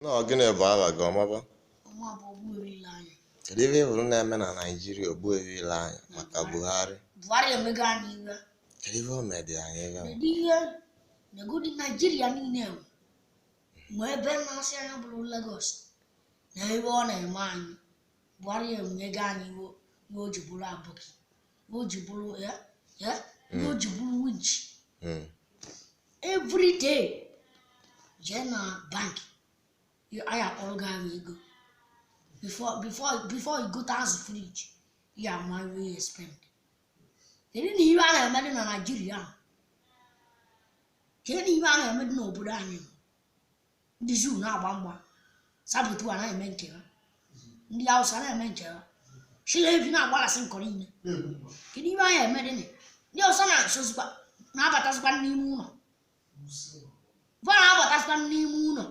na ọ gịnị bụ aha gị ọmaba Ọ mụ bụ Ogbuefi ile anya. kedu ihe ị hụrụ na-eme na naijiria Ogbuefi ile anya maka buhari Buhari emego anyị iwe. kedu ihe o medị anyị ebe a? Kedu ihe negodi Naijiria niile enwe? Ma ebe na-asị anya bụrụ Lagos na ebe ọ na-eme anyị. Buhari emego anyị iwe ma o ji bụrụ aboki. o ji bụrụ ya ya ihe o ji bụrụ winch Mm. every day jee na bank ya- anyị akpọrọ gị ahụ ego before before before you gote azụ fridge ya ama ihe ya spend kedu na ihe a na-eme dị na naijiria ahụ? kedu na ihe a na-eme dị n'obodo anyị nọ? ndị zoo na-agba mgba saboteur na-eme nke ha ndị Hausa na-eme nke ha chịlị evi na-agbalasị nkọ niile kedu ihe anyị eme dị ndị ọzọ na-asozikwa na-abatazikwa n'ime ụlọ va na-abatazikwa n'ime ụlọ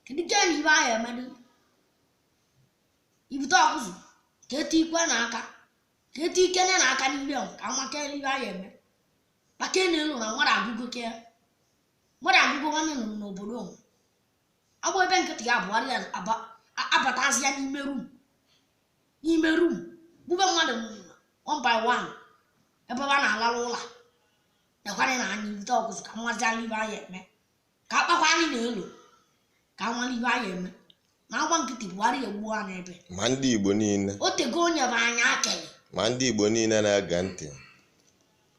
kedu ke na ihe anyị eme dị ibute ọkụzụ ka etu ikwe na aka ka etu ikene na aka n'ime ka amaka ihe anyị eme maka elu na mmadụ agụgo ke ya mmadụ agụgo nwanne nọ n'obodo onwe a gba ebe nkịtị a Buhari aba- a- abatazia n'ime room n'ime room gbube mmadụ one by one ebe a na-alarụ ụla nekwana na anyị bute ọkụzụ ka amazi anyị ihe anyị eme ka akpakwa anyị na elu ka amara ihe anyị eme na a gba nkịtị a Buhari egbuo anyị ebe ma ndị igbo niile o tego onye bụ anyị akele ma ndị igbo niile na-ege ntị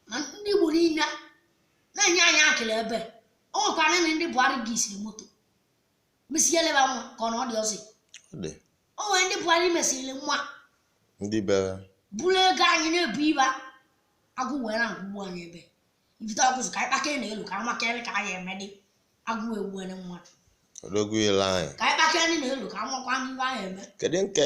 ma ndị igbo niile na-enye anyị akele ebe o nwekwara na ndị buhari ga-esiri moto mesie leba nwa ka ọ na ọ dị ọzọ Ọ dị. o nwere ndị buhari mesirili nwa Ndị bịara. bụrụ ego anyị na-ebu iba agụụ wee na agụgbu anyị ebe ibite ọkụzụ ka anyị kpaka na elu ka anyị makere ka anyị emedị agụụ egbuene mmadụ Ogbuefi ile anya. ka anyị kpaka na elu ka anyị makwa ndị ihe anyị eme Kedu nke